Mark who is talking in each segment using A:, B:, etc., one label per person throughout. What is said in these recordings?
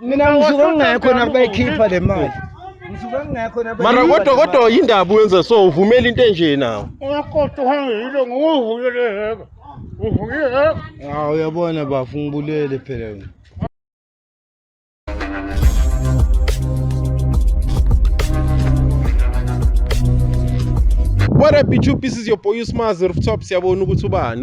A: mina ngisuke ngingekho nakubayikhipha le mali ngisuke ngingekho mara kodwa kodwa yindaba
B: uyenza so uvumela into enje nawo ungakoda uhambe
C: yilo nguvuke leheka uvuke heka hawu uyabona
A: bafu ngibulele phela wena
B: What up YouTube? This is your boy Usmaz Rooftop. Siyabona ukuthi ubani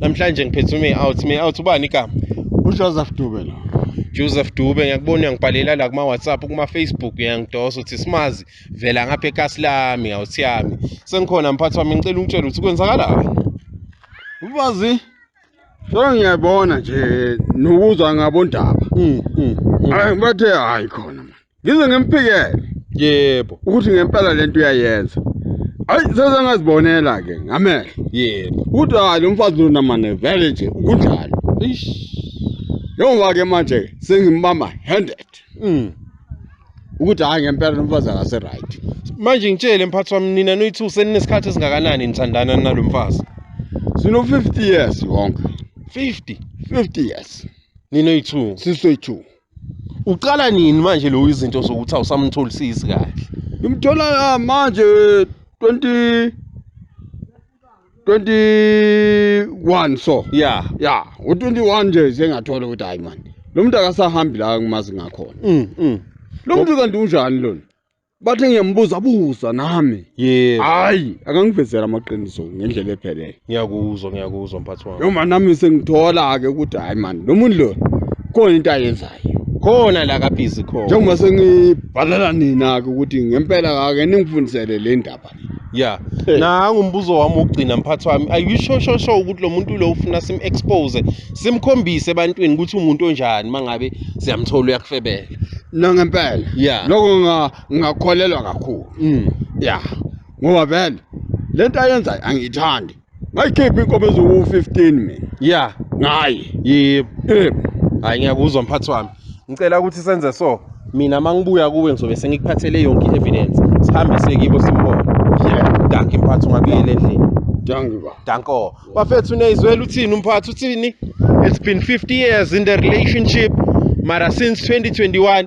B: namhlanje ngiphethe ume out me out ubani igama ujoseph dube
A: lo joseph dube
B: ngiyakubona uyangibhalela la kuma-whatsapp kuma-facebook uyangidosa uthi simazi vela ngapha ekasi lami awuthi yami sengikhona mphathi wami ngicela ungitshela ukuthi kwenzakalani
D: ubazi so ngiyabona nje nokuzwa ngabondaba mm, mm, mm. bathe hayi khona ngize ngimphikele yebo
B: ukuthi ngempela
D: lento uyayenza ayi sase ngazibonela ke ngamehlo yebo ukuthi
B: hayi lo mfazi
D: lona mane vele nje ukunjalo ish njengoba ke manje sengimbamba handed mm. ukuthi hayi ngempela lo mfazi akase right manje ngitshele
B: mphathi wami nina noyithu seninesikhathi esingakanani nithandana nalo mfazi sino
D: 50 years wonke 50 50
B: years
D: ninoyithu
B: sisoyithu
D: uqala
B: nini manje lo izinto zokuthi awusamtholisisi kahle ngimthola ah,
D: manje 20 21 so ya ya
B: u21
D: nje sengathola ukuthi hayi manje lo muntu akasahambi la ngimazi ngakhona mm, mm. lo muntu kanti unjani lona Bathi ngiyambuza buza nami. Yebo. Hayi,
B: akangivezela
D: amaqiniso ngendlela ephelele. Ngiyakuzwa, ngiyakuzwa
B: mphathi wami. Noma nami sengithola
D: ke ukuthi hayi man, lo muntu lo khona into ayenzayo. Khona la kabhizi
B: khona. Njengoba sengibhalela
D: nina ke ukuthi ngempela kake ningifundisele le ndaba. ya Eh.
B: nangu umbuzo wami wokugcina mphathi wami are you sure sure sure ukuthi lo muntu lo ufuna sim-expose simkhombise ebantwini ukuthi umuntu onjani uma ngabe siyamthola uyakufebela no ngempela
D: ya lokho nga-
B: ngingakholelwa
D: kakhulu Mm. ya ngoba vele le nto ayenzayo angiyithandi ngayikhipha inkomo eziwu-15 mina ya ngayi yebo Eh,
B: hhayi ngiyakuzwa mphathi wami ngicela ukuthi senze so mina uma ngibuya kuwe ngizobe sengikuphathele yonke i-evidence sihambise kibo simbone yeah. danki mphathi ungabuyela endlini danki ba
D: danko bafethu
B: uneyizwela uthini umphathi uthini it's been 50 years in the relationship mara since 2021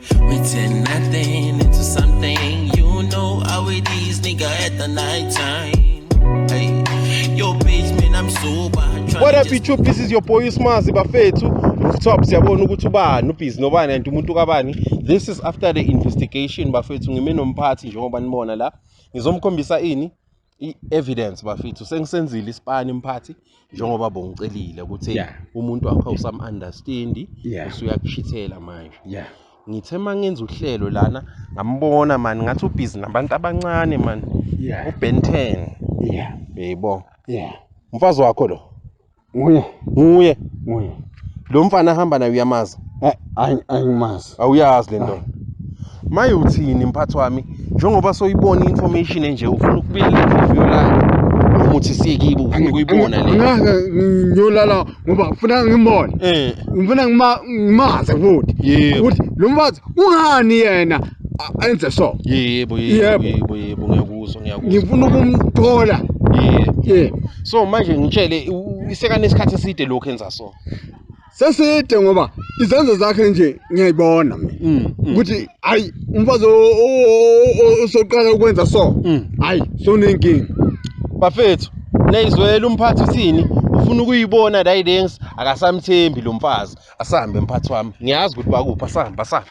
E: We turn nothing into something. You know how it is, nigga, at the night time. Hey, yo, bitch, man, I'm sober. What up, YouTube?
B: This is your boy Usmazi Bafethu. Rooftop, siyabona ukuthi ubani ubhizi nobani and umuntu kabani. This is after the investigation bafethu ngime nomphathi njengoba nibona la. Ngizomkhombisa ini i-evidence bafethu sengisenzile isipani mphathi njengoba bongicelile ukuthi Yeah. umuntu wakho usam-understandi Yeah. usuyakushithela manje yeah ngithe uma ngenza uhlelo lana ngambona mani ngathi ubhizi nabantu abancane mani yeah ubenten yeah beyibo yeah umfazi wakho lo Nguye. Nguye.
D: Nguye.
B: Lo mfana ahamba naye uyamazi? Eh,
D: angimazi. Awuyazi le ndoda.
B: Maye uthini mphathi wami njengoba soyibona information enje ufuna ukubika interview lakhe noma uthi siyekibo ufuna ukuyibona le. Ngeke ngiyolala
D: ngoba ufuna ngimbone. Eh. Ngifuna ngimazi futhi. Yebo. Ukuthi lo
B: mfazi
D: ungani yena? enze so yebo yebo
B: yebo yebo ngiyakuzwa ngiyakuzwa ngifuna
D: ukumthola yebo yebo
B: so manje ngitshele isekane isikhathi eside lokho enza so seside
D: ngoba izenzo zakhe nje ngiyayibona mina mm, mm. ukuthi hayi umfazi osoqala ukwenza so mm. hayi sonenkinga bafethu
B: neyizwela umphathi uthini ufuna ukuyibona la ilengs akasamthembi lo mfazi asambe mphathi wami ngiyazi ukuthi bakuphi asambe asambe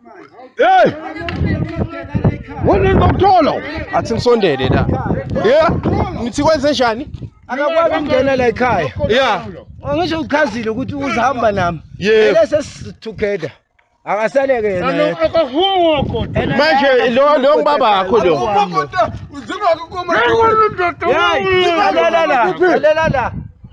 B: Hey!
D: Wonini bamthola? Athi nisondele
B: la. Yeah. Nithi kwenze njani? Akakwazi ukungena
A: la ekhaya. Yeah.
B: Angisho uchazile
A: ukuthi uzahamba nami. Yeah. Lese
B: together.
A: Akasaleke yena. Akahuwa kodwa. Manje
B: lo lo ngibaba yakho lo. Uzinga ukuma. Hayi,
A: la la la. La la la.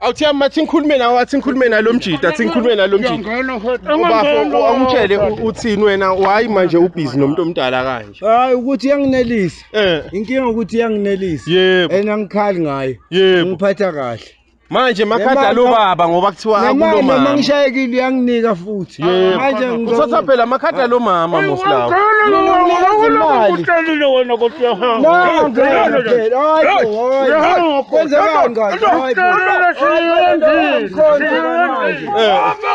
A: awuthiya mathi
B: ngikhulume nawe athi ngikhulume nalo mjita athi ngikhulume nalo mjita ubafo awumtshele uthini wena wayi manje ubhizi nomuntu omdala kanje hayi ukuthi yanginelisa
A: eh. inkinga ukuthi yanginelisa yebo and angikhali
B: ngayo
A: ngiphatha
B: kahle
A: manje makhada
B: lo baba ngoba kuthiwa akulo mama noma ngishayekile uyanginika
A: futhi manje ngizothatha phela amakhada
B: lo mama mosilawo uhlelile wena kodwa
C: uyahamba uyahamba kwenzeka
B: ngani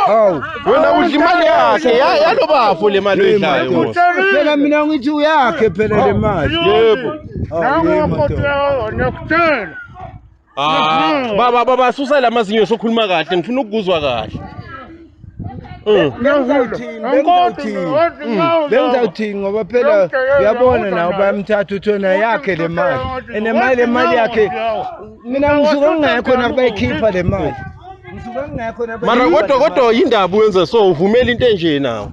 B: hawu wena udla imali yakhe yalo bafo le mali oyidlayo phela mina
A: ngithi uyakhe phela le mali yebo
B: nangu kodwa ngiyakutshela Ah, baba baba susa lamazinyo sokhuluma kahle ngifuna ukuzwa kahle.
A: Mm. bengizawuthini mm. ngoba phela uyabona nawo bayamthatha uthi wena yakhe le mali and mali le mali yakhe mina ngisuke ngingekho nakubayikhipha le mali mara kodwa kodwa
B: yindaba uyenza so uvumela into enje nawo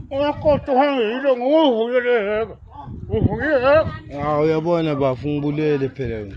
A: uyabona bafu ngibulele phela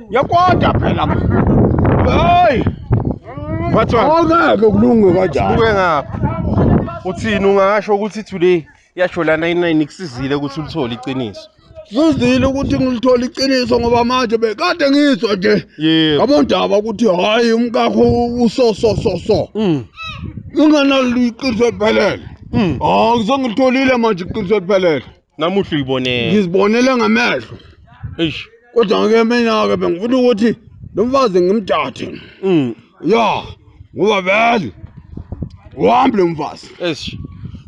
D: Ngiyakwada phela. Hey!
B: Wathwa. Awungeke kulunge
D: kanjani. Buke ngapha.
B: Uthini ungasho ukuthi today yasho lana inayini kusizile ukuthi ulithole iqiniso. Sizile ukuthi
D: ngilithola iqiniso ngoba manje bekade ngizwa nje. Yebo. Ngabondaba ukuthi hayi umkakho uso so so so. Mm. Unganalo iqiniso eliphelele. Mm. Ah, ngizongilitholile manje iqiniso eliphelele. namuhla uyibonela
B: ngizibonele ngamehlo
D: eish
B: kodwa ngeke mina
D: ke bengifuna ukuthi lo mfazi ngimthathe mm ya ngoba vele uhambe lo mfazi eish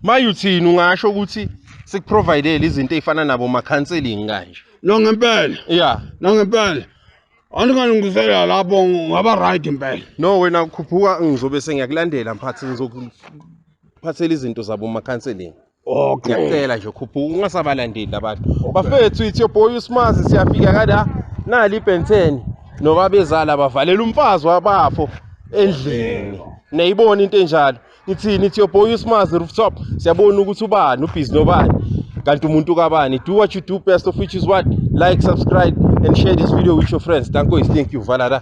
D: maye
B: uthini ungasho ukuthi sikuprovidele izinto ezifana nabo ma counseling kanje no ngempela
D: ya no ngempela andingalungisela lapho ngaba right impela no wena khuphuka
B: ngizobe sengiyakulandela mphathi ngizokuphathela izinto zabo ma counseling Okay. Ngiyacela
D: nje khuphuka
B: ungasabalandeli abantu. Bafethu ithi your boy uSmazi siyafika kada nali ibhenteni nobabezala bavalela umfazi wabafo endlini. Niyayibona into enjalo. Ithini ithi your boy uSmazi rooftop siyabona ukuthi ubani ubhizi nobani kanti umuntu kabani do what you do best of which is what like subscribe and share this video with your friends. Thank you, thank you Valada.